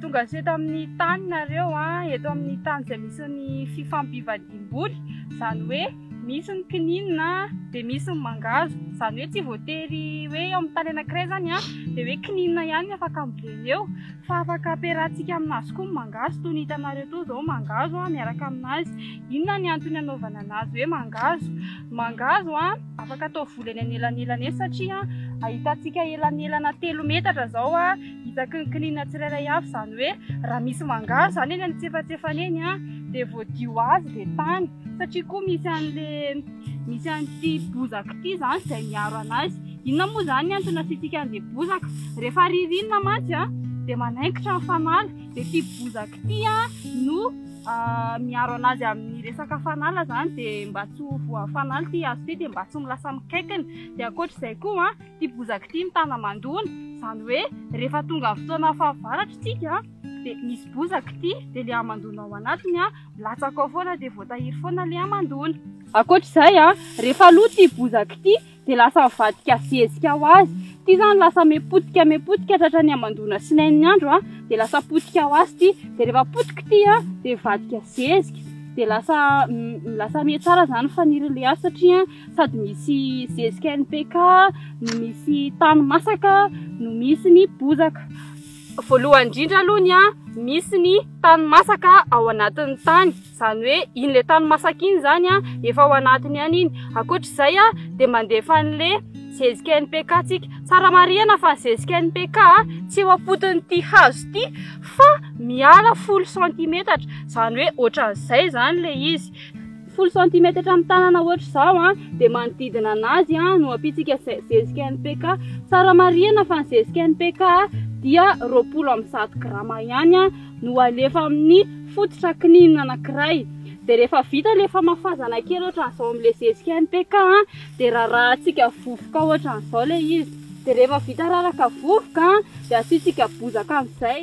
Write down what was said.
tonga hatreo tamin'ny tany nareo an eto amin'ny tany izay misy ny fifampivadiam-boly izany hoe misy ny kininina dia misy ny mangazo izany hoe tsy voatery hoe eo amin'ny tany anankiray izany an dia hoe kininina ihany ny afaka ambolena eo Fa afaka ampiarahantsika aminazy koa ny mangahazo toy ny hitanareo toa izao mangahazo a miaraka aminazy. Inona ny antony anaovana anazy hoe mangahazo? Ny mangahazo a afaka atao voly eny anelanelany eny satria ahitantsika elanelana telo metatra izao a isaky ny kininina tsirairay avy izany hoe raha misy mangahazo izany eny antsefatsefany eny a dia voadio ho azy ilay tany satria koa misy an'ilay misy an'ity bozaka ity izany izay miaro anazy. Inona moa izany ny antony asiantsika an'ilay bozaka? Rehefa ririnina mantsy dia manaikitra ny fanala, dia ity bozaka ity no miaro an'azy amin'ny resaka fanala izany, dia mba tsy ho voan'ny fanala ity hazo ity, dia mba tsy ho lasa mikaikina, dia ankoatr'izay koa ity bozaka ity mitana mandona, izany hoe rehefa tonga amin'ny fotoana fahavaratra isika dia misy bozaka ity, dia ilay hamandoana ao anatiny milatsaka ao foana, dia voatahiry foana ilay hamandoana. Ankoatr'izay, rehefa lo ity bozaka ity. dia lasa mivadika zezika ho azy. Ity izany lasa me potika me potika tratra ny hamandoana sy nain'ny andro a, dia lasa potika ho azy ity. Dia rehefa potika ity a, dia mivadika zezika. Dia lasa m- lasa me tsara izany fanirin'ilay hazo satria sady misy zezika NPK, no misy tany masaka, no misy ny bozaka. Voalohany indrindra aloha ny a, misy ny tany masaka ao anatin'ny tany. Izany hoe iny le tany masaka iny izany an, efa ao anatiny ihany iny. Ankoatr'izay an, dia mandefa an'le zezika NPK tsika. Tsara marihana fa ny zezika NPK an, tsy eo am-potin'ity hazo ity fa miala folo santimetatra. Izany hoe ohatran'izay izany ilay izy. Folo santimetatra amin'ny tanana ohatr'izao an, dia manodidina an'azy an, no ampiantsika ze- zezika NPK. Tsara marihana fa ny zezika NPK dia roapolo amin'ny zato grama ihany an. no alefa amin'ny fototra kininina anankiray dia rehefa vita ilay famafazana kely ohatran'izao amin'ilay zezika MPK a dia rarahantsika vovoka ohatran'izao ilay izy dia rehefa vita raraka vovoka a dia asiantsika bozaka amin'izay